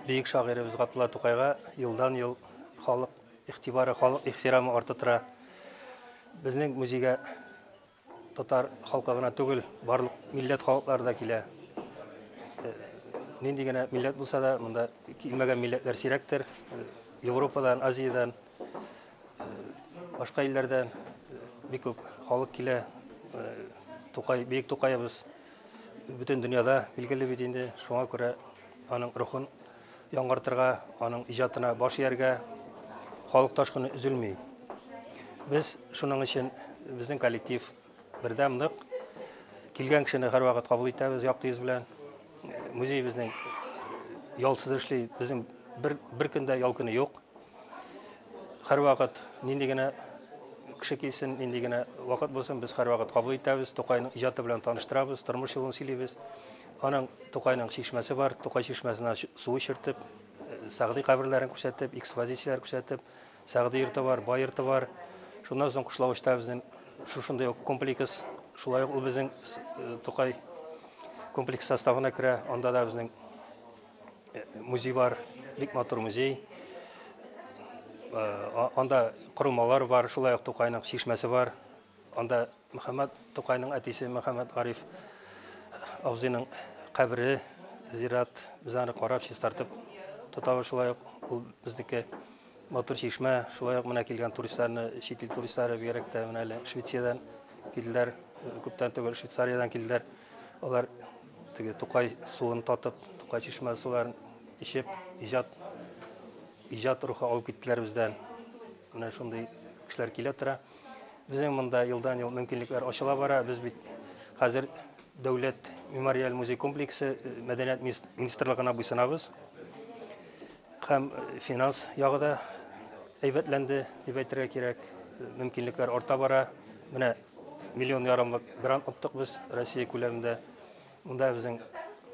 Бөек шагыйребез Габдулла Тукайга елдан-ел халык игътибары, халык ихтирамы арта тора. Безнең музейга татар халкы гына түгел, барлык милләт халыклары да килә. Э, нинди генә милләт булса да, монда килмәгән милләтләр сирәктер. Э, Европадан, Азиядән, э, башка илләрдән бик күп халык килә. Тукай, бөек Тукаебыз Бөтен дөньяда билгеле бит инде, шуңа күрә аның рухын яңартырга, аның иҗатына баш ияргә халык ташкыны өзелми. Без шуның өчен безнең коллектив бердәм нык килгән кешене һәрвакыт кабул итәбез якты йөз белән. Музей безнең ялсыз эшли, безнең бер бер көндә ял көне юк. Һәрвакыт нинди генә кеше килсен, нинди генә вакыт булсын, без һәрвакыт кабул итәбез, Тукайның иҗаты белән таныштырабыз, тормыш юлын сөйлибез. Аның Тукайның чишмәсе бар, Тукай чишмәсенә су эчертеп, э, Сәгъди каберләрен күрсәтеп, экспозицияләр күрсәтеп, Сәгъди йорты бар, Бай йорты бар. Шуннан соң Кушлавычта безнең шушындый ук комплекс, шулай ук ул безнең э, Тукай комплекс составына керә, анда да безнең Музей бар, бик матур музей. Э, анда корылмалар бар, шулай ук Тукайның чишмәсе бар. Анда Мөхәммәд Тукайның әтисе Мөхәммәд Гариф абзыйның кабере, зират, без аны карап, чистартып тотабыз. Шулай ук ул безнеке матур чишмә, шулай ук менә килгән туристларны, чит ил туристлары бигрәк тә менә әле Швециядән килделәр, күптән түгел Швейцариядән килделәр. Алар Теге Тукай суын татып, Тукай чишмә суларын ичеп, иҗат иҗат рухы алып киттеләр бездән. Менә шундый кешеләр килә тора. Безнең монда елдан-ел мөмкинлекләр ачыла бара. Без бит хәзер дәүләт мемориаль музей комплексы э, мәдәният министрлыгына буйсынабыз. Һәм э, финанс ягы да әйбәтләнде дип әйтергә кирәк. Э, мөмкинлекләр арта бара. Менә Миллион ярымлык грант оттык без Россия күләмендә. Монда безнең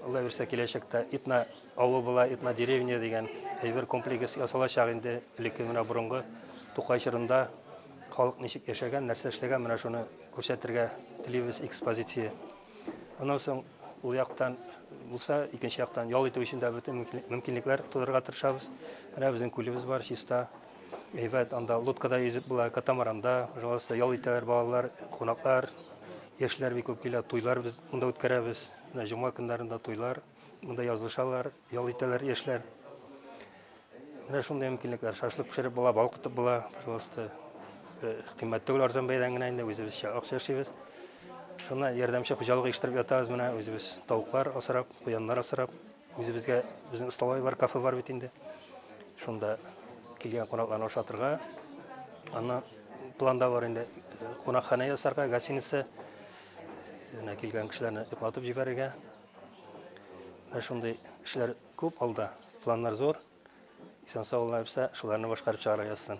Алла бирсә киләчәктә Итна авыл була, Итна деревня дигән әйбер комплекс ясалачак инде. Элекке менә борынгы Тукай чорында халык ничек яшәгән, нәрсә эшләгән, менә шуны күрсәтергә телибез экспозиция. Аннан соң ул яктан булса, икенче яктан ял итү өчен дә бөтен мөмкинлекләр тудырырга тырышабыз. Менә безнең күлебез бар, чиста. Әйбәт, анда лодкада йөзеп була, катамаранда, пожалуйста, ял итәләр балалар, кунаклар, яшьләр бик күп килә, туйлар без монда үткәрәбез. Менә җомга көннәрендә туйлар, монда язылышалар, ял итәләр яшьләр. Менә шундый мөмкинлекләр, шашлык пешереп була, балык тотып була, пожалуйста. Э, кыйммәт түгел, арзан бәядән генә инде үзебезчә акча эшлибез. Шуны ярдәмче хуҗалык оештырып ятабыз менә үзебез тавыклар асрап, куяннар асрап. Үзебезгә безнең столовый бар, кафе бар бит инде. Шунда килгән кунакларны ашатырга. Аннан планда бар инде кунакханә ясарга, гостиница менә килгән кешеләрне йоклатып җибәрергә. Менә шундый эшләр күп алда, планнар зур. Исән-сау булганыбызча шуларны башкарып чыгарга язсын.